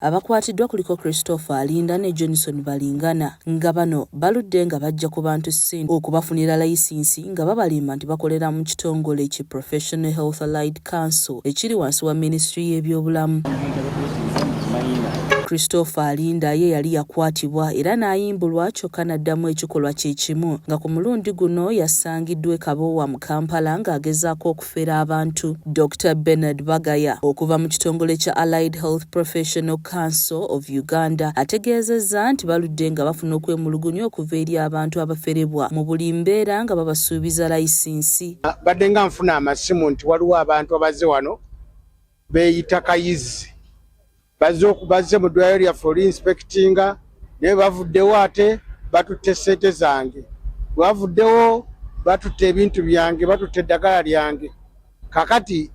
Abakwatiddwa kuliko Christopher Alinda ne Johnson Balingana nga bano baludde nga bajja ku bantu ssente okubafunira layisinsi nga babalimba nti bakolera mu kitongole ki Professional Health Allied Council ekiri wansi wa minisitule y'ebyobulamu. Christopher Alinda ye yali yakwatibwa era n'ayimbulwa kyokka n'addamu ekikolwa kye kimu nga ku mulundi guno yasangiddwa e Kabowa mu Kampala ng'agezaako okufera abantu. Dokita Bernard Bagaya okuva mu kitongole kya Allied Health Professional Council of Uganda ategeezezza nti baludde nga bafuna okwemulugunya okuva eri abantu abaferebwa mu buli mbeera nga babasuubiza layisinsi. Badde nga nfuna amasimu nti waliwo abantu abazze wano beeyita kayizi bazze mu ddwaliro lyaffe oli inspectinga naye bavuddewo ate batutte ssente zange bwebavuddewo batutte ebintu byange batutte eddagala lyange kakati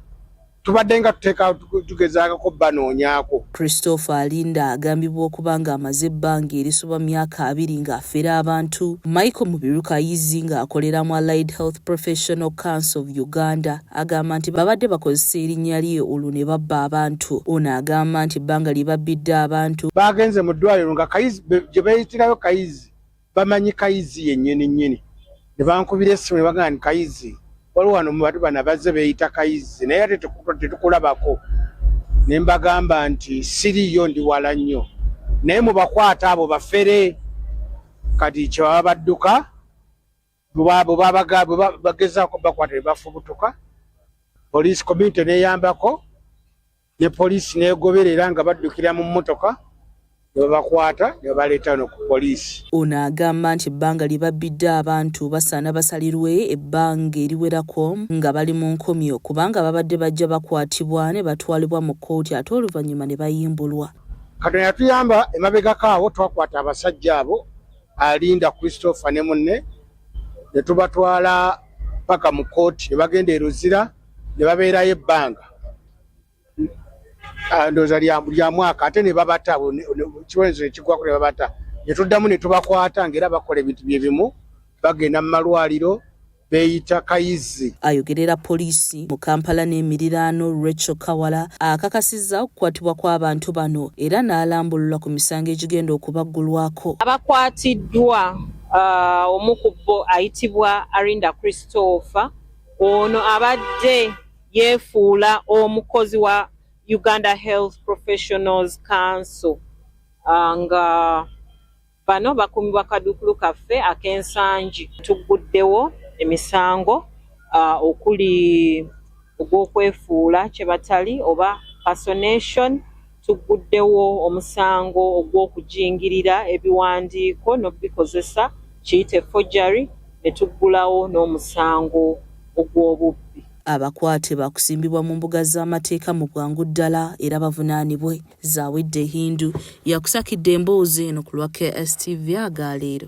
tubadde nga tuteeka tugezaako banoonyaako christopher alinda agambibwa okuba ng'amaze ebbanga erisoba myaka abiri ng'afera abantu michael mubiruka ayizzi ng'akolera mu allied health professional council of uganda Agamba nti babadde bakozesa erinnya lye olwo ne babba abantu. Ono agamba nti ebbanga lye babbidde abantu. Baagenze mu ddwaaliro nga Kayizi gye beeyitirayo Kayizi bamanyi Kayizi yennyini nnyini ne bankubira essimu ne bagamba nti Kayizi waliwo wano mu bantu bano abazze beeyita Kayizi naye ate tetukulabako ne mbagamba nti siriiyo ndi wala nnyo naye mubakwata abo bafere kati kyebaba badduka bwebagezaako bakwata bebafubutuka poliisi community neyambako ne poliisi negoberera nga baddukira mu mmotoka nebabakwata nebabaleeta no ku poliisi ono agamba nti ebbanga lye babbidde abantu basaana basalirwe ebbanga eriwerako nga bali mu nkomyo kubanga babadde bajja bakwatibwa ne batwalibwa mu kkooti ate oluvannyuma ne bayimbulwa katonda yatuyamba emabegako awo twakwata abasajja abo alinda christopher ne munne ne tubatwala paka mu kooti ne bagenda e luzira ne babeerayo ebbanga ah, ndooza lya mwaka ate ne babata kibonezo ekigwako ne babata ne tuddamu ne tubakwata ngaera bakola ebintu bye bimu bagenda mu malwaliro beeyita Kayizzi. Ayogerera poliisi mu Kampala n'emiriraano Rachel Kawala akakasizza okukwatibwa kw'abantu bano era n'alambulula ku misango egigenda okubaggulwako. Abakwatiddwa uh, omu ku bo ayitibwa Arinda Christopher ono abadde yeefuula omukozi wa Uganda Health Professionals Council uh, nga Bano bakuumibwa kaduukulu kaffe ak'ensangi. Tugguddewo emisango uh, okuli ogw'okwefuula kye batali oba personation tugguddewo omusango ogw'okujingirira ebiwandiiko n'okubikozesa kiyite forgery ne tuggulawo n'omusango ogw'obubbi. Abakwate baakusimbibwa mu mbuga z'amateeka mu bwangu ddala era bavunaanibwe. Zawedde Hindu yakusakidde emboozi eno ku lwa KSTV aga leero.